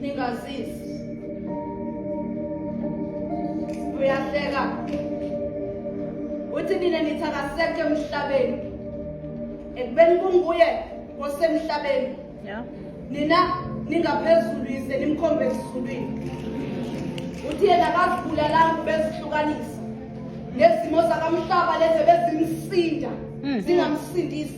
ningazisi uyahleka uthi nina nithi akasekho emhlabeni ekubeni kunguye osemhlabeni nina ningaphezulu yize nimkhombe ezulwini uthi yena akazibulalanga ubezihlukanisa nezimo zakamhlaba lezi bezimsinda hmm. zingamsindisi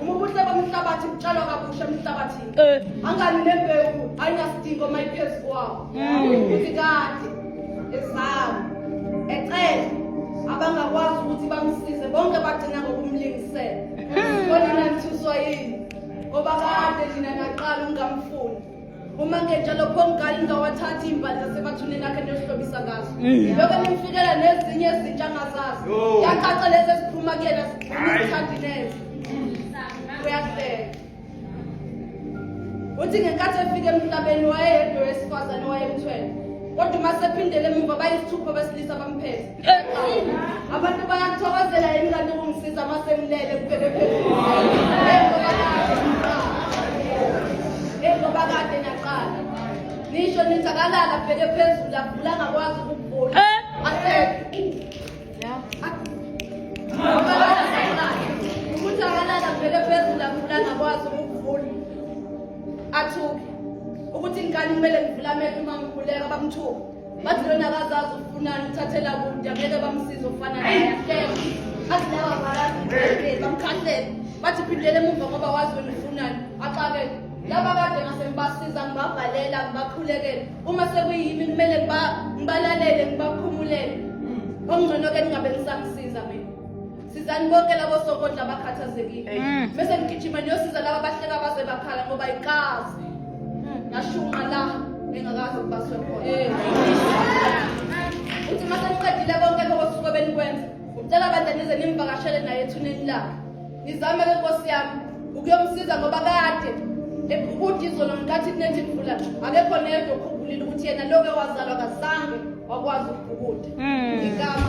Uma ubuhle bomhlabathi butshalwa kabusha emhlabathini. Eh. Angani nembewu ayinasidingo uma iphezu kwawo. Mm. Uthi kade ezawo ecele abangakwazi ukuthi bamsize bonke bagcina ngokumlingisela. Mm. Kodwa nanithuswa yini? Ngoba kade nina naqala ungamfuni. uma ngenjalo khongali ngingawathathi imbali zasebathuneni akhe ndiyohlobisa ngazo mm. lokho nimfikela nezinye izintsha angazazi yacaca lezi eziphuma kuyena zithandi neze uyahleka uthi ngenkathi efika emhlabeni wayeyedwa wesifazane wayemthwele kodwa uma sephindele emuva bayisithupha besilisa bamphethe abantu bayakuthokozela yini kanti ukungisiza uma sengilele kubheke phezulu njengoba kade naqala nisho nithi akalala bheke phezulu avula angakwazi ukuvula athuke ukuthi ngikani kumele ngivulamele uma ngikhuleka bamthuke bathi lona akazazi ufunani uthathela kude angeke bamsize ufana bathi laba balazi bamkhahlele bathi phindele emuva ngoba wazi wena ufunani axakele laba kade ngase ngibasiza ngibabhalela ngibakhulekele uma sekuyimi kumele ngibalalele ngibakhumulele okungcono-ke ningabe ngisamsiza mina sizani bonke labo sokondla abakhathazekile mm. bese ngigijima niyosiza laba bahleka baze bakhala ngoba ikazi mm. ngashunqa la engakazi ukubaswe khona eh. uthi uma seniqedile bonke lokho kusuke benikwenza ngicela abantu nize nimvakashele naye ethuneni lakhe nizame ke nkosi yami ukuyomsiza ngoba kade ukuthi izolo ngenkathi kunethi imvula akekho neyedwa okhumbulile ukuthi yena loke wazalwa kazange wakwazi ukubhukuda mm. igama